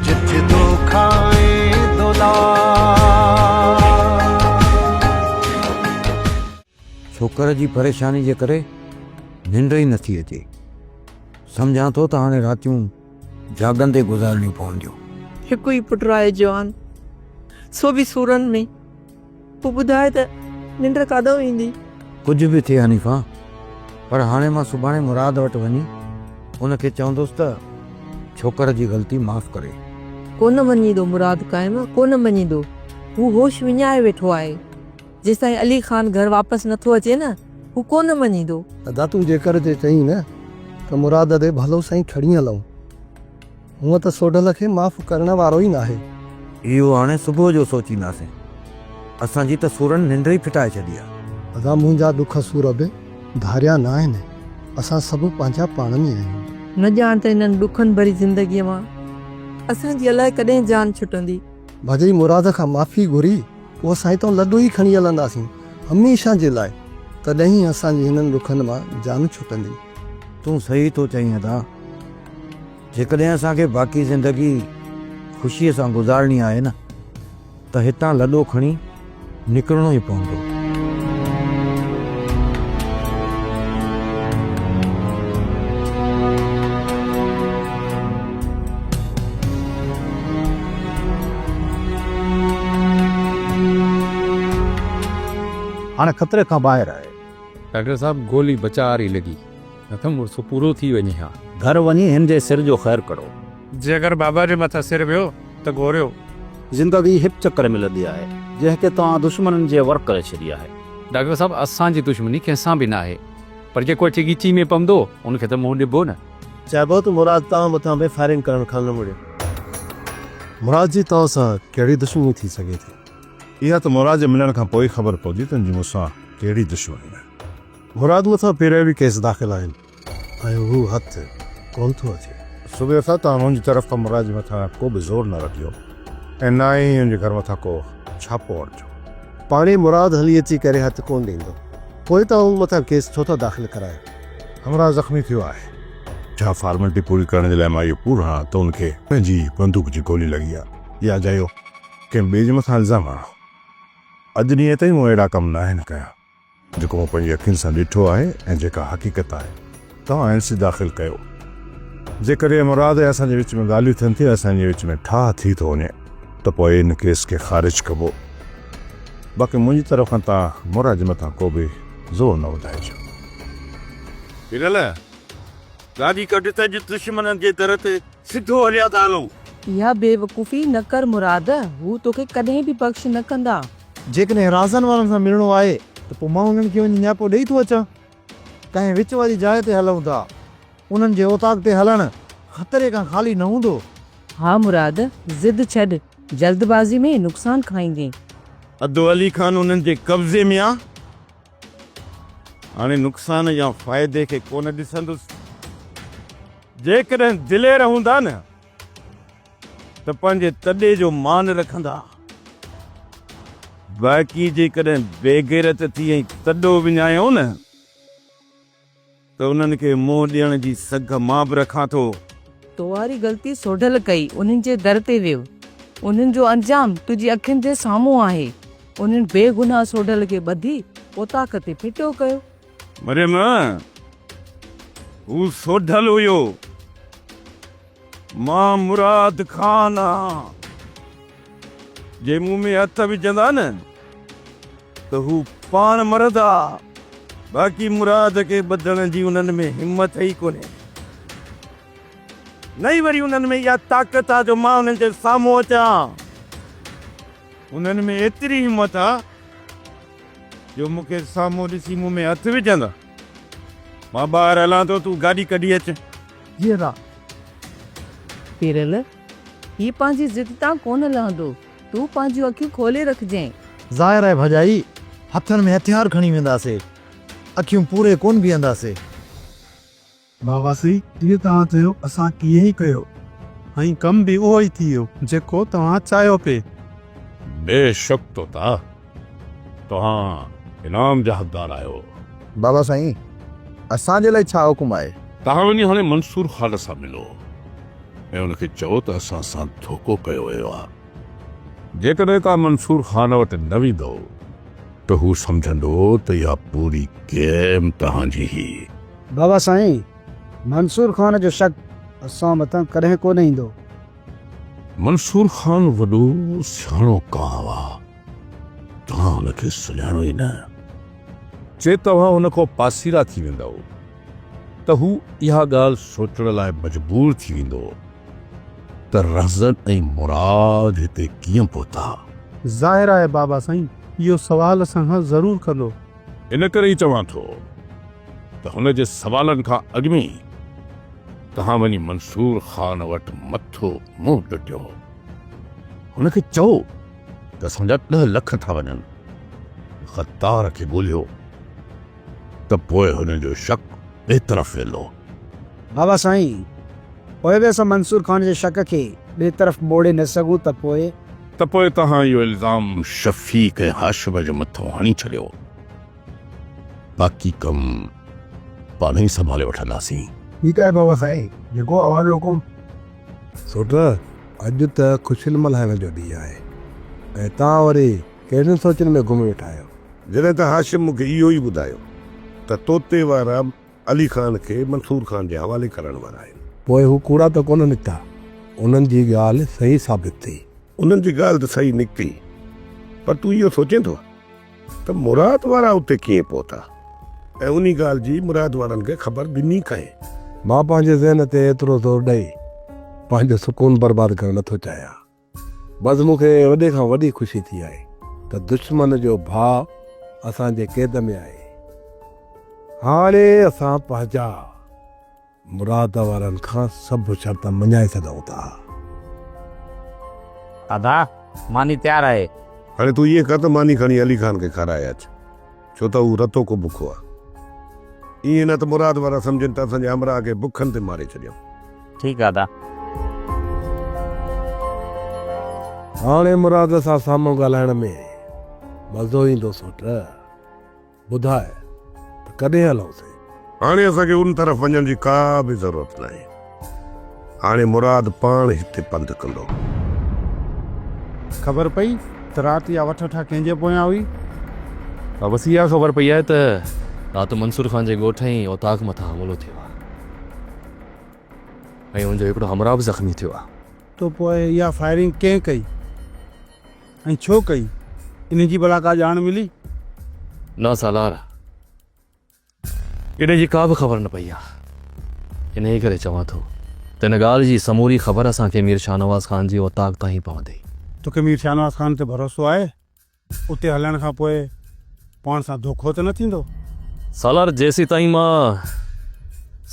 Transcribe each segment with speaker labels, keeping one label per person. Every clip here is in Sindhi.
Speaker 1: جت دو کائين ڇوڪر جي پريشاني جي ڪري ننڊ ئي نٿي اچي سمجهان ٿو ته هاڻي راتيون جاڳندي گذارڻيون پونديون. هڪ ئي پٽ
Speaker 2: آهي جوان سو به سورن ۾. پوء ٻڌاء ته ننڊ ڪاڏانهن ايندي؟ ڪجهه به ٿئي
Speaker 1: حنيفه، پر هاڻي مان سڀاڻي مراد وٽ وڃي ان کي چوندس ته ڇوڪر جي غلطي معاف ڪري. ڪونه مڃيندو
Speaker 2: مراد قائم، ڪونه مڃيندو. هو هوش وڃائي ويٺو آهي. جيستائين علي خان گهر واپس نه ٿو اچي نه، هو ڪونه مڃيندو. ادا تون جيڪر
Speaker 3: جي چئين نه ته مراد ڏي ڀلو سائين کڻي هلئون. هونء ته سوڍل کي معاف ڪرڻ وارو ئي ناهي. اهو هاڻي
Speaker 1: صبح جو سوچينداسين. اسان جي ته سورن ننڊ ئي ڦٽائي ڇڏي آ. ادا منهنجا ڏک
Speaker 3: سور به ڌاريا نه آهن. اسان سڀ پنهنجا پاڻ ۾ آهيون. نه ڄاڻ ته هنن
Speaker 2: ڏکن ڀري زندگيء مان اسان جي الائي ڪڏهن جان ڇٽندي. ڀڄي مراد
Speaker 3: کان معافي گهري پوء سائين تون لڏو ئي کڻي هلنداسين هميشه جي لاء. تڏهن ئي اسان جي هنن ڏکن مان جان ڇٽندي. تون صحيح
Speaker 1: ٿو چئين ادا. جيڪڏهن اسان کي باقي زندگي خوشيء سان گذارڻي آهي نه ته هتان لڏو کڻي نڪرڻو ئي پوندو.
Speaker 4: هاڻي خطري کان ٻاهر آهي. ڊاڪٽر صاحب
Speaker 5: گولي بچاء واري لڳي. نه ته مڙس پورو ٿي وڃي ها. گهر وڃي هن جي
Speaker 4: سر جو خير ڪرو. جي اگر بابا
Speaker 6: جي مٿان سر ويو ته گهوريو. زندگي هڪ
Speaker 4: چڪر ملندي آهي. جنهن کي توهان دشمنن جي ور ڪري ڇڏي آهي. ڊاڪٽر صاحب اسان
Speaker 5: جي دشمني ڪنهن سان به ناهي پر جيڪو اچي ڳچي ۾ پوندو ان کي ته منهن ڏبو نه. چئبو ته مراد
Speaker 3: توهان مٿان به فائرنگ ڪرڻ کان نه مڙيو. مراد جي توهان سان ڪهڙي دشمني ٿي سگهي ٿي. اها ته مراد
Speaker 7: جي ملڻ کان پوء ئي خبر پوندي تنهنجي مون سان ڪهڙي دشمني آهي. مراد مٿان
Speaker 3: پهريا به ڪيس داخل آهن ۽ هو هٿ ڪونه ٿو اچي. صوبي صاحب توهان
Speaker 7: منهنجي طرف کان مراد جي مٿان ڪو به زور نه رکجو ۽ نه ئي هن جي گهر مٿان ڪو ڇاپو هڻجو. پاڻهي مراد
Speaker 3: هلي اچي ڪري هٿ ڪونه ڏيندو پوء توهان مون مٿان ڪيس ڇو ٿا داخل ڪرايو. همراهه زخمي
Speaker 7: ٿيو آهي. ڇا فارملٽي پوري ڪرڻ جي لاء مان اهو پور هڻان ته ان کي پنهنجي بندوق جي گولي لڳي آهي يا اجايو ڪنهن ٻئي جي مٿان الزام هڻان. اڄ ڏينهن تائين مون اهڙا ڪم ناهن ڪيا. جيڪو مون پنهنجي اکين سان ڏٺو آهي ۽ جيڪا حقيقت آهي. توهان اين سي داخل ڪيو. جيڪڏهن مراد ۽ اسان جي وچ ۾ ڳالهيون ٿين ٿيون ۽ اسان جي وچ ۾ ٺاهه ٿي ٿو وڃي ته پوء ان ڪيس کي خارج ڪبو. باقي منهنجي طرف کان توهان مراد مٿان ڪو به زور نه وڌائجو.
Speaker 8: پريل، گاڏي ڪڍ ته اڄ دشمنن جي در تي سڌو هليا ته هلون. اها بيوقوفي
Speaker 2: نه ڪر مراد، هو توکي ڪڏهن به بخش نه ڪندا. جيڪڏهن رازن
Speaker 4: وارن سان ملڻو آهي ته پوء مان انهن کي وڃي نياپو ڏيئي ٿو اچان. ڪنهن وچ واري جاء تي هلون ٿا. انهن جي اوطاق تي هلڻ خطري کان خالي نه هوندو. ها مراد،
Speaker 2: ضد ڇڏ، جلدبازي ۾ نقصان کائيندين. ادو علي
Speaker 8: خان انهن جي قبضي ۾ آ. هاڻي نقصان يا فائدي کي ڪونه ڏسندس. جيڪڏهن دلير هوندا نه ته پنهنجي تڏي جو مان رکندا، باقي جيڪڏهن بيغيرت ٿي ۽ تڏو وڃايئون نه. ته انهن کي منهن ڏيڻ جي سگهه مان به رکان ٿو. تو واري
Speaker 2: غلطي سوڍل ڪئي، انهن جي در تي ويو. انهن جو انجام تنهنجي اکين جي سامهون آهي. انهن بي گناهه سوڍل کي ٻڌي اوطاق تي ڦٽو ڪيو. مريم،
Speaker 8: هو سوڍل هيو. مان مراد خان آهان. جي مون ۾ هٿ وجهندا نه ته هو پاڻ مرندا. باقي مراد کي ٻڌڻ جي انهن ۾ همت ئي ڪونهي. نه ئي وري انهن ۾ اها طاقت آهي جو مان انهن جي سامهون اچان. انهن ۾ ايتري همت آهي جو مون کي سامهون ڏسي مون ۾ هٿ وجهندا. مان ٻاهر هلان ٿو، تون گاڏي ڪڍي اچ. جي را.
Speaker 2: پيرل، هي پنهنجي ضد تان ڪونه لهندو. تون پنهنجيون اکيون کولي رکجين. ظاهر آهي ڀڄائي
Speaker 4: هٿن ۾ هٿيار کڻي وينداسي. اکيون پوري ڪونه بيهنداسي.
Speaker 9: بابا سي، جيئن توهان چيو اسان ائين ئي ڪيو. ۽ ڪم به اهو ئي ٿي ويو جيڪو توهان چاهيو پي. بيشڪ
Speaker 7: طوطا! توهان انعام جا حقدار آهيو. بابا سائين
Speaker 4: اسان جي لاء ڇا حڪم آهي؟ توهان وڃي هاڻي
Speaker 7: منصور خان سان ملو ۽ ان کي چئو ته اسان سان ڌوڪو ڪيو ويو آهي. جيڪڏهن توهان منصور خان وٽ نه ويندؤ ته هو سمجهندو ته اها پوري گيم توهان جي هئي. بابا سائين
Speaker 10: منصور خان جو شڪ اسان مٿان ڪڏهن ڪونه ايندو.
Speaker 7: منصور خان وڏو سياڻو ڪانء آهي. توهان هن کي سڃاڻو ئي نه. جي توهان هن کان پاسيرا ٿي ويندؤ ته هو اها ڳالهه سوچڻ لاء مجبور ٿي ويندو ته رهزن ۽ مراد هتي ڪيئن پهتا. ظاهر آهي
Speaker 9: بابا سائين اهو سوال اسان کان ضرور ڪندو. ان ڪري ئي
Speaker 7: چوان ٿو ته هن جي سوالن کان اڳ ۾ ئي توهان وڃي منصور خان وٽ مٿو منهن ٽٽيو. هن کي چئو. ته اسان جا ڏهه لک ٿا وڃن. غدار کي ڳولهيو ته پوء هن جو شڪ ٻئي طرف ويندو. بابا
Speaker 10: سائين، پوء به اسان منصور خان جي شڪ کي ٻئي طرف موڙي نه سگهون ته پوء؟ ته پوء توهان اهو الزام
Speaker 7: شفيق ۽ هاشم جي مٿان هڻي ڇڏيو. باقي ڪم پاڻهي سنڀالي وٺنداسين. ٺيڪ آهي بابا
Speaker 3: سائين، جيڪو اوهان جو حڪم. سوٽ، اڄ ته خوشين ملهائڻ جو ڏينهن آهي ۽ توهان وري ڪهڙين سوچن ۾ گم ويٺا آهيو؟ جڏهن ته هاشم
Speaker 7: مون کي اهو ئي ٻڌايو ته طوطي وارا علي خان کي منصور خان جي حوالي ڪرڻ وارا آهن. پوء هو ڪوڙا ته
Speaker 3: ڪونه نڪتا؟ انهن جي ڳالهه صحيح ثابت ٿي. انهن جي ڳالهه ته
Speaker 7: صحيح نڪتي، پر تون اهو سوچين ٿو؟ ته مراد وارا اتي ڪيئن پهتا ۽ انهي ڳالهه جي مراد وارن کي خبر ڏني ڪنهن؟ مان پنهنجي ذهن
Speaker 3: تي ايترو زور ڏئي پنهنجو سڪون برباد ڪرڻ نه ٿو چاهيان. بس مون کي وڏي کان وڏي خوشي ٿي آهي ته دشمن جو ڀاء اسان جي قيد ۾ آهي. هاڻي اسان پنهنجا. مراد وارن کان سڀ شرط مڃائي سگهون ٿا.
Speaker 5: دادا ماني تيار آهي. هاڻي تون ائين ڪر
Speaker 7: ته ماني کڻي علي خان کي کارائي اچ، ڇو ته هو رتو ڪو بکو آ. ائين نه ته مراد وارا سمجهن ته اسان جي همراهه کي بکن تي ماري ڇڏيائون. ٺيڪ آ دادا.
Speaker 3: هاڻي مراد سان سامهون ڳالهائڻ ۾ مزو ايندو سوٽ. ٻڌاء ته ڪڏهن هلون ٿي؟ هاڻي اسان کي
Speaker 7: ان طرف وڃڻ جي ڪا به ضرورت ناهي. هاڻي مراد پاڻ هتي پنڌ ڪندو.
Speaker 9: خبر پئي ته رات اها وٺ وٺا ڪنهن جي پويان هئي؟ ها بس
Speaker 5: اها خبر پئي آهي ته رات منصور خان جي ڳوٺ ۽ اوطاق مٿان حملو ٿيو آهي ۽ ان جو هڪڙو همراهه به زخمي ٿيو آهي. ته پوء اها
Speaker 9: فائرنگ ڪنهن ڪئي؟ ۽ ڇو ڪئي؟ انهي جي ڀلا ڪا ڄاڻ ملي؟ نه
Speaker 5: سالار، انهي جي ڪا به خبر نه پئي آهي. انهي ڪري چوان ٿو ته ان ڳالهه جي سموري خبر اسان کي مير شاهنواز خان جي اوطاق تان ئي پوندي. تو کي مير شاهنواز
Speaker 9: خان تي ڀروسو آهي؟ اتي هلڻ کان پوء پاڻ سان ڌوڪو ته نه ٿيندو؟ سالار،
Speaker 5: جيسيتائين مان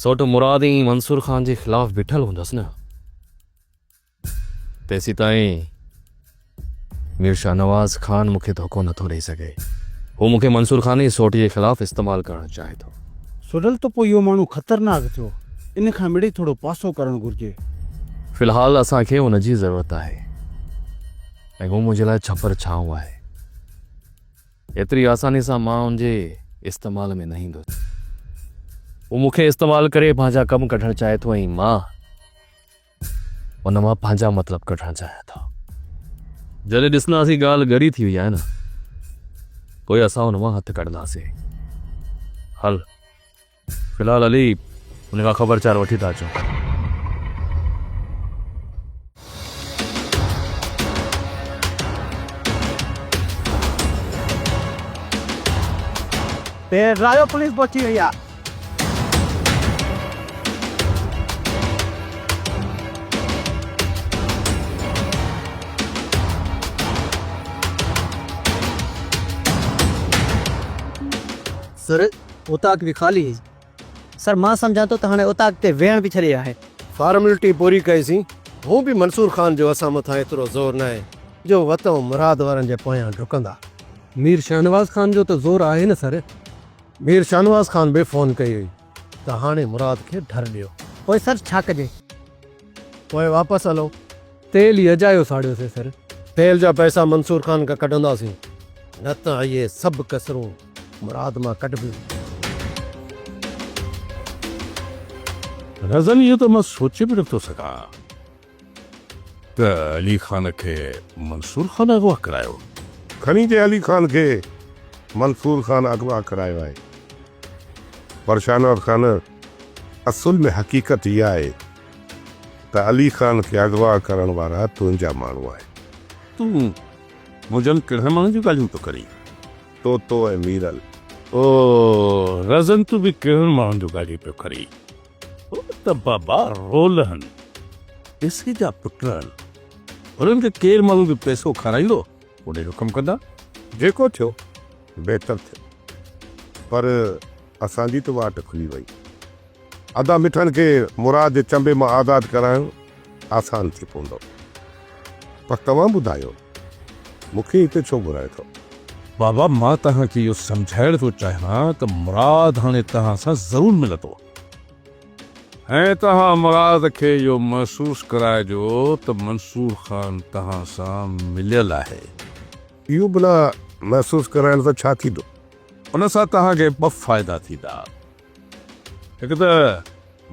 Speaker 5: سوٽ مراد ۽ منصور خان جي خلاف بيٺل هوندس نه. تيسيتائين مير شاهنواز خان مون کي ڌوڪو نٿو ڏئي سگهي. هو مون کي منصور خان جي سوٽيء جي خلاف استعمال ڪرڻ چاهي ٿو. سڊل ته پوء اهو
Speaker 9: ماڻهو خطرناڪ ٿيو. ان کان مڙئي ٿورو پاسو ڪرڻ گهرجي. في الحال
Speaker 5: اسان کي ان جي ضرورت آهي ۽ هو منهنجي لاء ڇپر ڇانو آهي. ايتري آسانيء سان مان ان جي استعمال ۾ نه ايندس. هو مون کي استعمال ڪري پنهنجا ڪم ڪڍڻ چاهي ٿو ۽ مان. ان مان پنهنجا مطلب ڪڍڻ چاهيان ٿو. جڏهن ڏسنداسين ڳالهه ڳري ٿي وئي آهي نه پوء اسان ان مان هٿ ڪڍنداسين. هل في الحال علي ان کان خبرچار وٺي ٿا اچون. پير رايو پوليس پهچي وئي آهي.
Speaker 10: سر اوطاق به خالي هي. سر مان سمجهان ٿو ته هاڻي اوطاق تي ويهڻ به ڇڏي آهي. فارملٽي پوري
Speaker 3: ڪئي سين. هون به منصور خان جو اسان مٿان ايترو زور ناهي جو وتون مراد وارن جي پويان ڊڪندا. مير شاهنواز خان جو ته زور آهي نه سر. مير شاهنواز خان به فون ڪئي هئي ته هاڻي مراد کي ڍر ڏيو. پوء سر ڇا ڪجي؟
Speaker 10: پوء
Speaker 3: واپس هلو. تيل ئي اجايو ساڙيوسين سر. تيل جا پئسا منصور خان کان ڪڍنداسين، نه ته اهي سڀ ڪسرون مراد مان ڪڍبيون.
Speaker 7: رزن اهو ته مان سوچي به نٿو سگهان. ته علي خان کي منصور خان اغوا ڪرايو. کني جي علي خان کي منصور خان اغوا ڪرايو آهي پر شاهنواز خان اصل ۾ حقيقت اها آهي ته علي خان کي اغوا ڪرڻ وارا تنهنجا ماڻهو آهن. تون
Speaker 8: منهنجن ڪهڙن ماڻهن جون ڳالهيون ٿو ڪرين؟ طوطو
Speaker 7: ۽ ميرل. او
Speaker 8: رزن تون به ڪهڙن ماڻهن جون ڳالهيون پيو ڪرين؟ هو ته بابا رولهن پيسي جا پٽ آهن، انهن کي ڪير ماڻهو به پيسو کارائيندو اوڏي جو ڪم ڪندا. جيڪو ٿيو
Speaker 7: بهتر ٿيو پر اسان جي ته واٽ کلي وئي. ادا مٺن کي مراد جي چنبي مان آزاد ڪرايو آسان ٿي پوندو. پر توهان ٻڌايو مون کي هتي ڇو گهرايو اٿو؟ بابا مان
Speaker 8: توهان کي اهو سمجهائڻ ٿو چاهيان ته مراد هاڻي توهان سان ضرور ملندو ۽ توهان مراد کي اهو محسوس ڪرائجو ته منصور خان توهان سان مليل آهي. اهو ڀلا
Speaker 7: محسوس ڪرائڻ سان ڇا ٿيندو؟ ان سان
Speaker 8: توهان کي ٻه فائدا ٿيندا. هڪ ته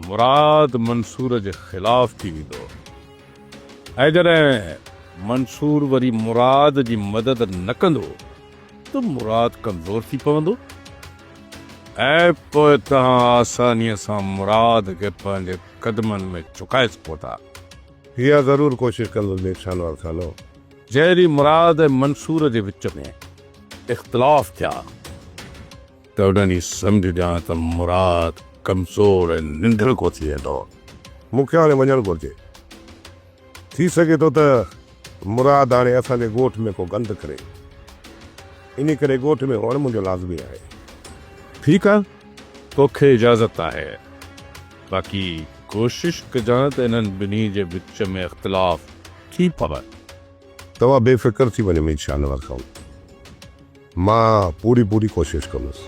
Speaker 8: مراد منصور جي خلاف ٿي ويندو ۽ جڏهن منصور وري مراد جي مدد نه ڪندو ته مراد ڪمزور ٿي پوندو ۽ پوء توهان آسانيء سان مراد کي پنهنجي قدمن ۾ جهڪائي سگهو ٿا. اها ضرور
Speaker 7: ڪوشش ڪندس مير شانوار خانو. جنهن ڏينهن
Speaker 8: مراد ۽ منصور جي وچ ۾ اختلاف ٿيا. ته انهن ئي سمجهجان ته مراد ڪمزور ۽ ننڍڙ ڪو ٿي ويندو. مون کي هاڻي
Speaker 7: وڃڻ گهرجي. ٿي سگهي ٿو ته مراد هاڻي اسان جي ڳوٺ ۾ ڪو گند ڪري. انهي ڪري ڳوٺ ۾ هئڻ منهنجو لازمي آهي. ٺيڪ آ،
Speaker 8: تو کي اجازت آهي. باقي ڪوشش ڪجان ته انهن ٻنهي جي وچ ۾ اختلاف ٿي پوي. توهان بي
Speaker 7: فڪر ٿي وڃو مير شاهنواز خان. مان پوري پوري ڪوشش ڪندس.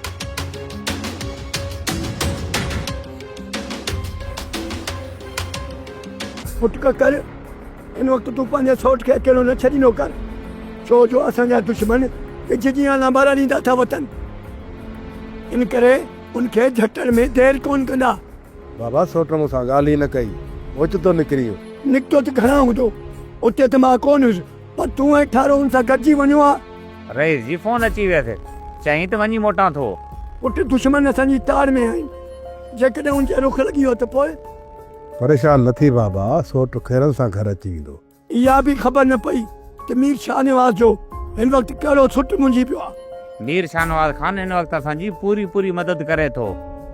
Speaker 10: پٽ ڪڪر، ان وقت تون پنهنجي سئوٽ کي اڪيلو نه ڇڏيندو ڪر، ڇو جو اسان جا دشمن وجهه جيان لانبارا ڏيندا ٿا وتن. ان ڪري ان کي جهٽڻ ۾ دير ڪونه ڪندا. بابا سئوٽ
Speaker 3: مون سان ڳالهه ئي نه ڪئي. اوچتو نڪري ويو. نڪتو ته گهڻا هوندو.
Speaker 10: اتي ته مان ڪونه هيس. پر تون ۽ ٺارو هن سان گڏجي وڃو ها. رئيس جي فون اچي
Speaker 11: ويس. چيائين ته وڃي موٽان ٿو. پٽ دشمن
Speaker 10: اسان جي تاڙ ۾ آهن. جيڪڏهن ان جي رخ لڳي ويو ته پوء؟ پريشان
Speaker 3: نه ٿي بابا، سوٽ خيرن سان گهر اچي ويندو. اها به خبر
Speaker 10: نه پئي ته مير شاهنواز جو هن وقت ڪهڙو سٽ منجهي پيو آهي. مير شاهنواز
Speaker 11: خان هن وقت اسان جي پوري پوري مدد ڪري ٿو.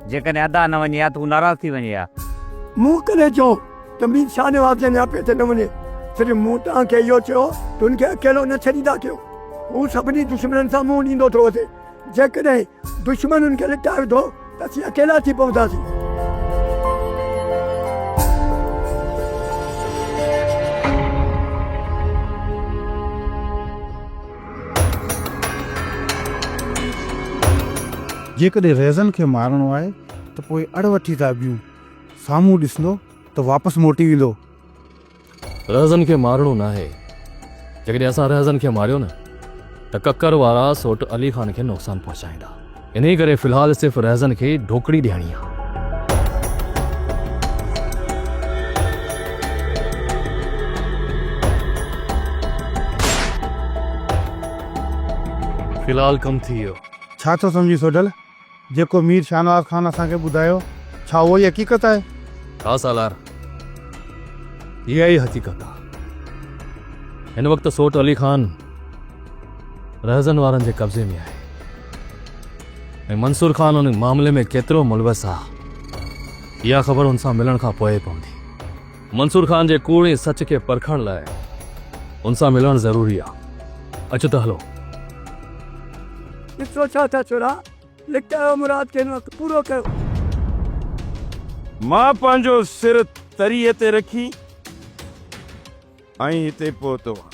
Speaker 11: جيڪڏهن ادا نه وڃي ها ته هو ناراض ٿي وڃي ها. مون ڪڏهن
Speaker 10: چيو ته مير شاهنواز جي نياپي تي نه وڃي، صرف مون توهان کي اهو چيو ته هن کي اڪيلو نه ڇڏيندا ڪيو. هو سڀني دشمنن سان منهن ڏيندو ٿو وڌي. جيڪڏهن دشمن هن کي لٽائي وڌو ته اسين اڪيلا ٿي پونداسين.
Speaker 4: جيڪڏهن ريزن کي مارڻو آهي ته پوء اڙ وٺي ٿا بيهون. سامهون ڏسندو ته واپس موٽي ويندو.
Speaker 5: رهزن کي مارڻو ناهي. جيڪڏهن اسان رهزن کي ماريو نه ته ڪڪر وارا سوٽ علي خان کي نقصان پهچائيندا. انهي ڪري في الحال صرف رهزن کي ڍوڪڙي ڏيڻي آ. في الحال ڪم ٿي ويو. ڇا ٿو سمجهين
Speaker 4: سوڍل؟ جيڪو مير شاهنواز خان اسان کي ٻڌايو، ڇا اهو ئي حقيقت آهي؟ ها سالار،
Speaker 5: اها ئي حقيقت آهي. هن وقت سوٽ علي خان رهزن وارن جي قبضي ۾ آهي ۽ منصور خان ان معاملي ۾ ڪيترو ملوث آهي، اها خبر هن سان ملڻ کان پوء ئي پوندي. منصور خان جي ڪوڙ ۽ سچ کي پرکڻ لاء ان سان ملڻ ضروري آ. اچ ته هلون. ايترو
Speaker 10: ڇا ٿا ڇورا، لڪ اهو مراد کي هن وقت پورو ڪيو.
Speaker 8: مان پنهنجو سر تريء تي رکي ۽ هتي پهتو آهيان.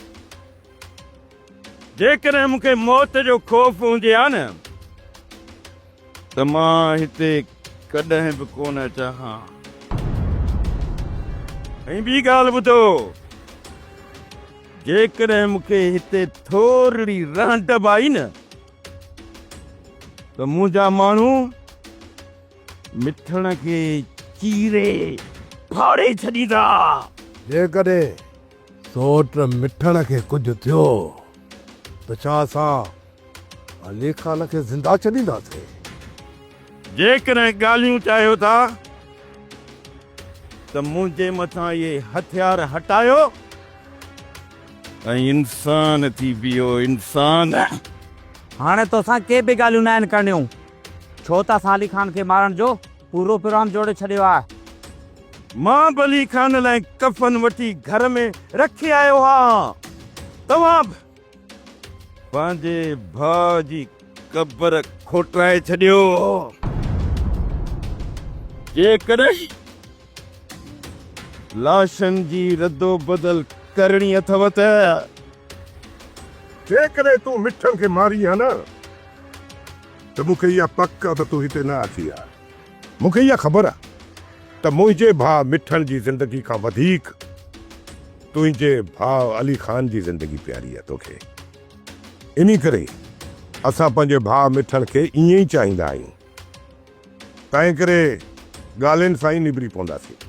Speaker 8: جيڪڏهن مون کي موت جو خوف هوندي ها نه ته مان هتي ڪڏهن به ڪونه اچان ها. ۽ ٻي ڳالهه ٻڌو، جيڪڏهن مون کي هتي ٿورڙي رهنٽ به آئي نه ته منهنجا ماڻهو مٺڻ کي چيري ڦاڙي ڇڏيندا. جيڪڏهن
Speaker 3: سوٽ مٺڻ کي ڪجهه ٿيو ته ڇا اسان علي خان کي زنده ڇڏينداسين؟
Speaker 8: جيڪڏهن ڳالهيون چاهيو ٿا ته منهنجي مٿان اهي هٿيار هٽايو ۽ انسان ٿي بيهو، انسان! هاڻي
Speaker 11: توسان ڪي به ڳالهيون ناهن ڪرڻيون، ڇو ته اسان علي خان کي مارڻ جو پورو پروگرام جوڙي ڇڏيو آ. مان بلي
Speaker 8: خان لاء ڪفن وٺي گهر ۾ رکي آيو هان. توهان به پنهنجي ڀاء جي قبر کوٽرائي ڇڏيو. جيڪڏهن لاشن جي ردوبدل ڪرڻي اٿئو ته.
Speaker 7: جيڪڏهن تون مٺن کي مارين ها نه. ته مون کي اها پڪ آ ته تون هتي نه اچي ها. مون کي اها خبر آ ته منهنجي ڀاء مٺڻ جي زندگي کان وڌيڪ تنهنجي ڀاء علي خان جي زندگي پياري آ توکي. انهي ڪري اسان پنهنجي ڀاء مٺڻ کي ائين ئي چاهيندا آهيون. تنهنڪري ڳالهين سان ئي نبري پونداسين.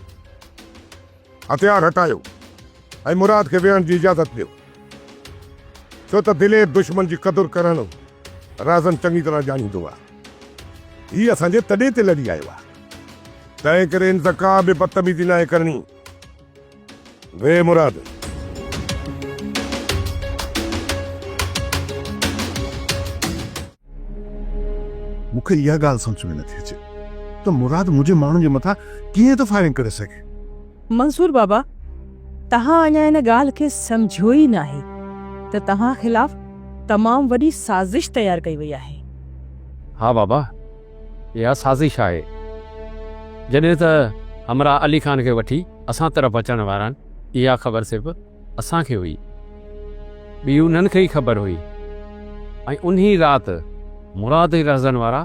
Speaker 7: هٿيار هٽايو ۽ مراد کي ويهڻ جي اجازت ڏيو، ڇو ته دلير دشمن جي قدر ڪرڻ رازن چڱي طرح ڄاڻيندو آهي. هي اسان جي تڏي تي لڏي آيو آهي، تنهن ڪري هن سان ڪا به بدتميزي ناهي ڪرڻي. ويهه مراد!
Speaker 9: مون کي اها ڳالهه سمجهه ۾ نٿي اچي ته مراد منهنجي ماڻهن جي مٿان ڪيئن ٿو فائرنگ ڪري سگهي. منصور بابا
Speaker 2: توهان اڃا ان ڳالهه کي سمجهيو ئي ناهي ته توهان خلاف تمام وڏي سازش تيار ڪئي وئي آهي. ها
Speaker 5: بابا اها سازش آهي جڏهن ته همراهه علي خان کي وٺي اسان طرف اچڻ وارن اها خبر صرف. اسان کي هئي، ٻي انهن کي ئي خبر هئي ۽ انهي رات مراد جي لحظن وارا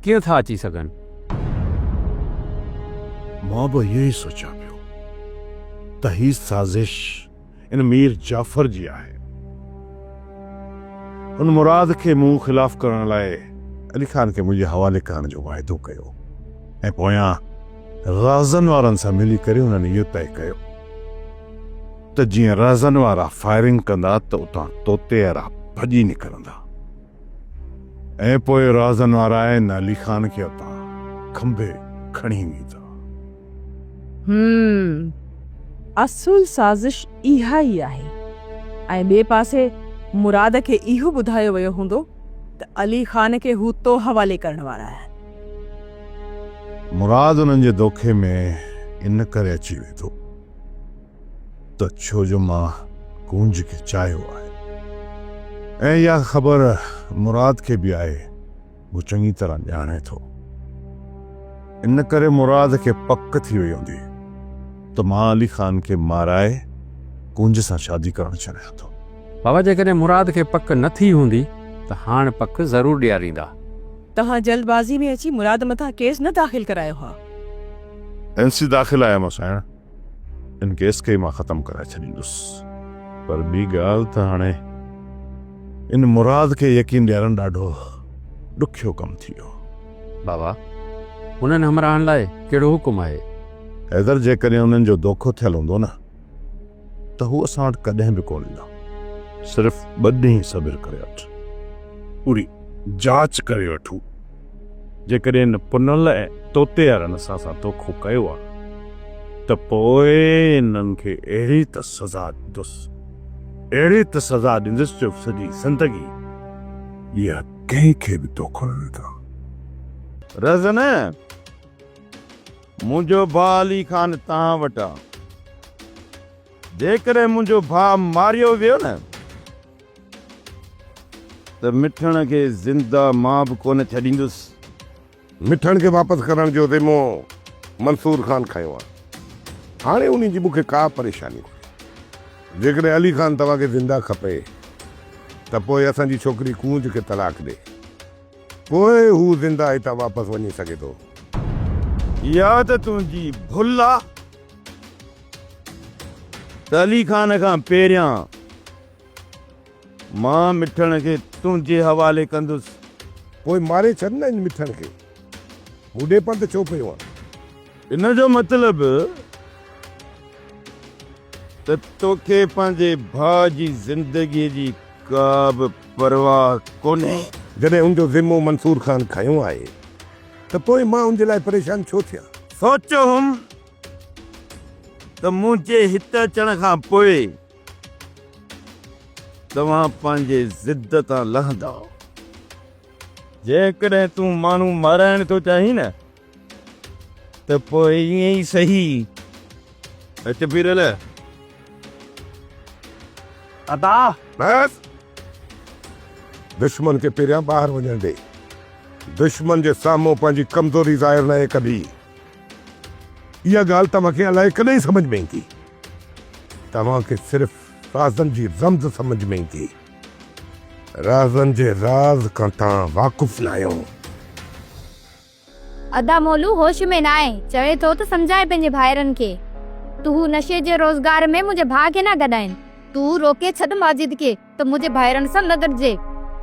Speaker 5: ڪيئن ٿا اچي سگهن؟
Speaker 7: مان به اهو ئي سوچيان پيو ته هي سازش ان مير جعفر جي آهي. هن مراد کي مون خلاف ڪرڻ لاء علي خان کي منهنجي حوالي ڪرڻ جو واعدو ڪيو ۽ پويان رهزن وارن سان ملي ڪري هنن اهو طئي ڪيو ته جيئن رهزن وارا فائرنگ ڪندا ته اتان طوطيئرا ڀڄي نڪرندا ۽ پوء رهزن وارا نا علي خان کي اتان کنڀي کڻي ويندا. هم
Speaker 2: اصل سازش اها ئي آهي ۽ ٻئي پاسي مراد کي اهو ٻڌايو ويو هوندو ته علي خان کي هو تو حوالي ڪرڻ وارا آهن.
Speaker 7: مراد انهن جي دوکي ۾ ان ڪري اچي ويٺو ته ڇو جو مان ڪونج کي چاهيو آهي ۽ اها خبر مراد کي به آهي هو چڱي طرح ڄاڻي ٿو ان ڪري مراد کي پڪ ٿي وئي هوندي ته مان علي خان کي مارائي ڪونج سان شادي ڪرڻ چاهيان ٿو. بابا جيڪڏهن
Speaker 5: مراد کي پڪ نه ٿي هوندي ته هاڻ پڪ ضرور ڏياريندا. توهان جلد
Speaker 2: بازي ۾ اچي مراد مٿان ڪيس نه داخل ڪرايو ها. اين
Speaker 7: سي داخل آهي اما سائڻ ان ڪيس کي مان ختم ڪرائي ڇڏيندس پر ٻي ڳالهه ته هاڻي ان مراد کي يقين ڏيارڻ ڏاڍو ڏکيو ڪم ٿي ويو. بابا
Speaker 5: انهن همراهن لاء ڪهڙو حڪم آهي؟ حيدر جيڪڏهن
Speaker 7: انهن جو دوکو ٿيل هوندو نه. ته هو اسان وٽ ڪڏهن به ڪونه ايندا. صرف ٻه ڏينهن صبر ڪري وٺ. پوري جاچ ڪري وٺون. جيڪڏهن ان پنل ۽ طوطي وارن اسان سان دوکو ڪيو آهي ته پوء انهن کي اهڙي ته سزا ڏيندس، اهڙي ته سزا ڏيندس جو سڄي زندگي اها ڪنهن کي به دوکو نه ڏيندا.
Speaker 8: رهزنه! منهنجو ڀاء علي خان توهان وٽ آ. جيڪڏهن منهنجو ڀاء ماريو ويو نه ته مٺڻ کي زنده مان به ڪونه ڇڏيندس. مٺڻ کي واپس
Speaker 7: ڪرڻ جو ذمو منصور خان کنيو آ. هاڻي انهي جي مون کي ڪا پريشاني ڪونهي. جيڪڏهن علي خان توهان کي زنده کپي ته پوء اسان جي ڇوڪري ڪونج کي طلاق ڏي. پوء هو زنده هتان واپس وڃي سگهي ٿو.
Speaker 8: يا ته تنهنجي ڀل آ ته علي خان کان پهريان مان مٺڻ کي تنهنجي حوالي ڪندس. پوء ماري
Speaker 7: ڇڏ نه هن مٺڻ کي. مون ڏي پنڌ ڇو پيو آن. ان جو مطلب
Speaker 8: ته توکي پنهنجي ڀاء جي زندگيء جي ڪا به پرواهه ڪونهي. جڏهن
Speaker 3: ان جو ذمو منصور خان کنيو آهي ته پوء مان ان جي لاء پريشان ڇو ٿيان؟ سوچيو هوم
Speaker 8: ته منهنجي هت اچڻ کان پوء توهان پنهنجي ضد تان لهندؤ. جيڪڏهن تون ماڻهو مارائڻ ٿو چاهين نه؟ ته پوء ائين ئي سهي. هت پير نه.
Speaker 11: ادا! بس!
Speaker 3: دشمن کي پهريان ٻاهر وڃڻ ڏي. دشمن جي سامهون پنهنجي ڪمزوري ظاهر ناهي ڪبي. اها ڳالهه توهان کي الائي ڪڏهن سمجهه ۾ ايندي. توهان کي صرف رازن جي رمز سمجهه ۾ ايندي. رازن جي راز کان توهان واقف ناهيو.
Speaker 12: ادا مولو هوش ۾ ناهي، چوي ٿو ته سمجهاء پنهنجي ڀائرن کي، تو هو نشي جي روزگار ۾ منهنجي ڀاء کي نه گڏائين. تو روڪي ڇڏ ماجد کي ته منهنجي ڀائرن سان نه گڏجي،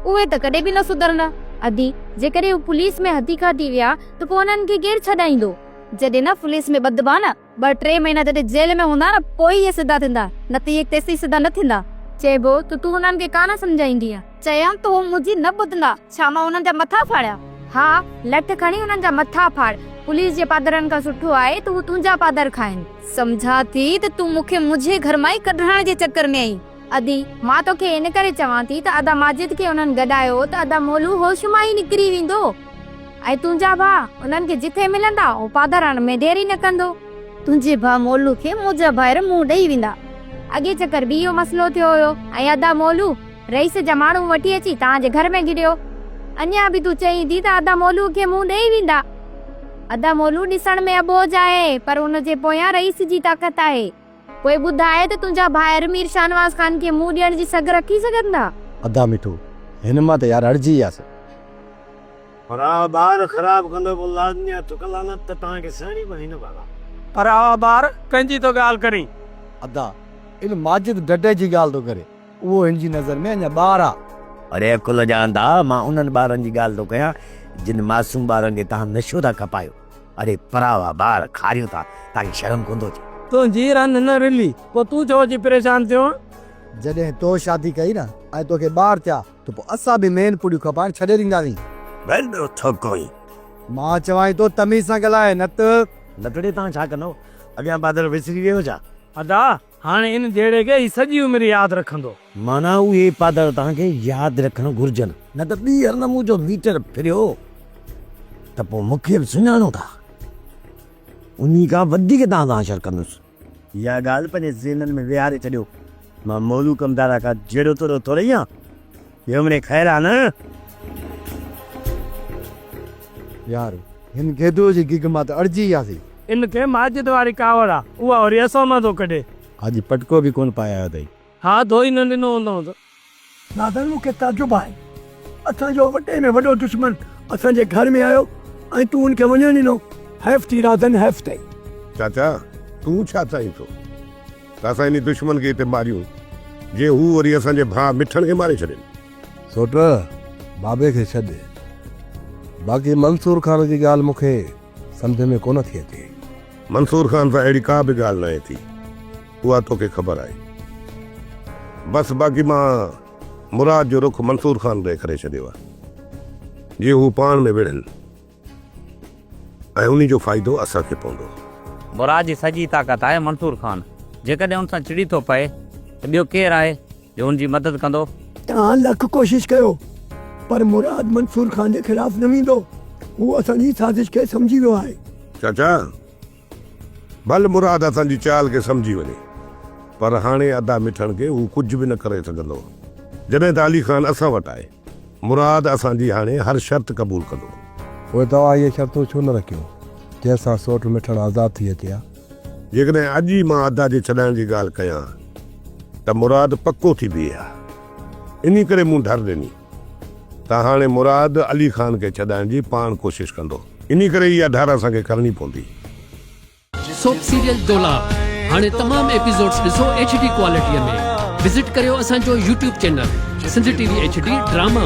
Speaker 12: اهي ته ڪڏهن به نه سڌرندا. ادي، جيڪڏهن هو پوليس ۾ هٿي کاتي ويا ته پوء انهن کي ڪير ڇڏائيندو؟ جڏهن نه پوليس ۾ ٻڌبا نه. ٻه ٽي مهينا جڏهن جيل ۾ هوندا نه پوء ئي اهي سڌا ٿيندا، نه ته اهي تيسين سڌا نه ٿيندا. چئبو ته تون انهن کي ڪانه سمجهائيندينء. چيم ته هو منهنجي نه ٻڌندا، ڇا مان انهن جا مٿا ڦاڙيان؟ ها، لٺ کڻي انهن جا مٿا ڦاڙ، پوليس جي پادرن کان سٺو آهي ته هو تنهنجا پادر کائين. سمجهان ٿي ته تون مون کي منهنجي گهر مان ئي ڪڍرائڻ جي چڪر ۾ آهين. ادي، مان توکي ان ڪري چوان ٿي ته ادا ماجد کي انهن گڏايو ته ادا مولو هوش مان ئي نڪري ويندو. ۽ تنهنجا ڀاء انهن کي جتي ملندا او پادر هڻڻ ۾ دير ئي نه ڪندو. تنهنجي ڀاء مولو کي منهنجا ڀائر منهن ڏئي ويندا. اڳئين چڪر به اهو مسئلو ٿيو هيو ۽ ادا مولو رئيس جا ماڻهو وٺي اچي توهان جي گهر ۾ گهڙيو. اڃا به تون چئين ٿي ته ادا مولو کي منهن ڏئي ويندا. ادا مولو ڏسڻ ۾ اٻوجهه آهي پر ان جي پويان رئيس جي طاقت آهي. پوء ٻڌاء ته تنهنجا ڀائر مير شاهنواز خان کي منهن ڏيڻ جي سگهه رکي سگهندا؟ ادا مٺو،
Speaker 4: هن مان ته يار اڙجي وياسي.
Speaker 10: پرا ٻار خراب ڪندو پوء لازمي آهي ٿڪ لعنت ته توهان کي سهڻي پوي نه ڀلا. پرا ٻار
Speaker 6: ڪنهنجي ٿو ڳالهه ڪرين؟ ادا،
Speaker 4: ان ماجد ڍڍي جي ڳالهه ٿو ڪري. اهو هن جي نظر ۾ اڃا ٻار آهي. اڙي عقل جا
Speaker 11: انڌا، مان انهن ٻارن جي ڳالهه ٿو ڪيان، جن معصوم ٻارن کي توهان نشو ٿا کپايو. اڙي پراوا ٻار کاريون ٿا تانکي شرم ڪوندو اچي. تنهنجي رن نه
Speaker 6: رلي پو تون ڇو اچي پريشان ٿيو. جڏهن تو
Speaker 4: شادي ڪئي نه ۽ توکي ٻار ٿيا ته پو اسان به مين پڙيون کپائڻ ڇڏي ڏينداسين. ول ٻيو ٿو
Speaker 11: ڪوئين. مان چوانء
Speaker 4: ٿو تميز سان ڳالهاء نه ته. لتڙي تان ڇا ڪندو
Speaker 11: اڳيان بادر وسري ويو ڇا. ادا
Speaker 6: هاڻي ان جهيڙي کي هي سڄي عمر ياد رکندو. معنيٰ اهي
Speaker 11: پادر توهان کي ياد رکڻ گهرجن. نه ته ٻيهر نه مون جو ميٽر ڦريو ته پوء مون کي به سڃاڻو ٿا. انهي کان وڌيڪ توهان سان حشر ڪندس. اها ڳالهه پنهنجي ذهنن ۾ ويهاري ڇڏيو. مان مولوء ڪمدارا کان جهيڙو توڙيو ٿورئي هان. جهومري خير آ نه.
Speaker 4: يار هن گيدوء جي گيگ مان ته اڙجي وياسي. ان کي ماجد
Speaker 6: واري ڪاوڙ آ اها وري اسان مان ٿو ڪڍي. اڄ پٽڪو به
Speaker 4: ڪونه پائي آيو اٿئي. ها ڌوئي نه
Speaker 6: ڏنو هوندئون ته. ناظر مون
Speaker 10: کي تعجب آهي اسان جو وڏي ۾ وڏو دشمن اسان جي گهر ۾ آيو ۽ تون ان کي وڃڻ ڏنو حيف ٿي رازن حيف ٿئي. چاچا
Speaker 3: تون ڇا چائين ٿو. ته اسان انهي دشمن کي هتي ماريون، جيئن هو وري اسان جي ڀاء مٺڻ کي ماري ڇڏين. سوٽ، بابي کي ڇڏ. باقي منصور خان جي ڳالهه مون کي سمجهه ۾ ڪونه ٿي اچي. منصور خان سان اهڙي ڪا به ڳالهه ناهي ٿي، اها توکي خبر آهي. بس باقي مان مراد جو رخ منصور خان ڏي ڪري ڇڏيو آهي، جيئن هو پاڻ ۾ وڙهن. ۽ انهي جو فائدو اسان کي پوندو. مراد جي سڄي
Speaker 11: طاقت آهي منصور خان جيڪڏهن ان سان چڙي ٿو پئي ته ٻيو ڪير آهي جو ان جي مدد ڪندو. توهان لک
Speaker 10: ڪوشش ڪيو پر مراد منصور خان جي خلاف نه ويندو هو اسان جي سازش کي سمجهي ويو آهي. چاچا
Speaker 3: ڀل مراد اسان جي چال کي سمجهي وڃي پر هاڻي ادا مٺڻ کي هو ڪجهه به نه ڪري سگهندو جڏهن ته علي خان اسان وٽ آهي. مراد اسان جي هاڻي هر شرط قبول ڪندو. پوء توهان
Speaker 13: اهي شرطون ڇو نه رکيون جنهن سان سوٽ مٺڻ آزاد ٿي اچي ها. جيڪڏهن اڄ
Speaker 3: ئي مان ادا جي ڇڏائڻ جي ڳالهه ڪيان ته مراد پڪو ٿي بيهي ها انهي ڪري مون ڍر ڏني. ته هاڻي مراد علي خان کي ڇڏائڻ جي پاڻ ڪوشش ڪندو. انهي ڪري اها ڍار اسان کي ڪرڻي پوندي.
Speaker 14: سوپ سيريل دولاب هاڻي تمام ايپيسوڊس ڏسو ايڇ ڊي ڪوالٽي ۾ وزٽ ڪريو اسان جو YouTube channel Sindh T V H D drama.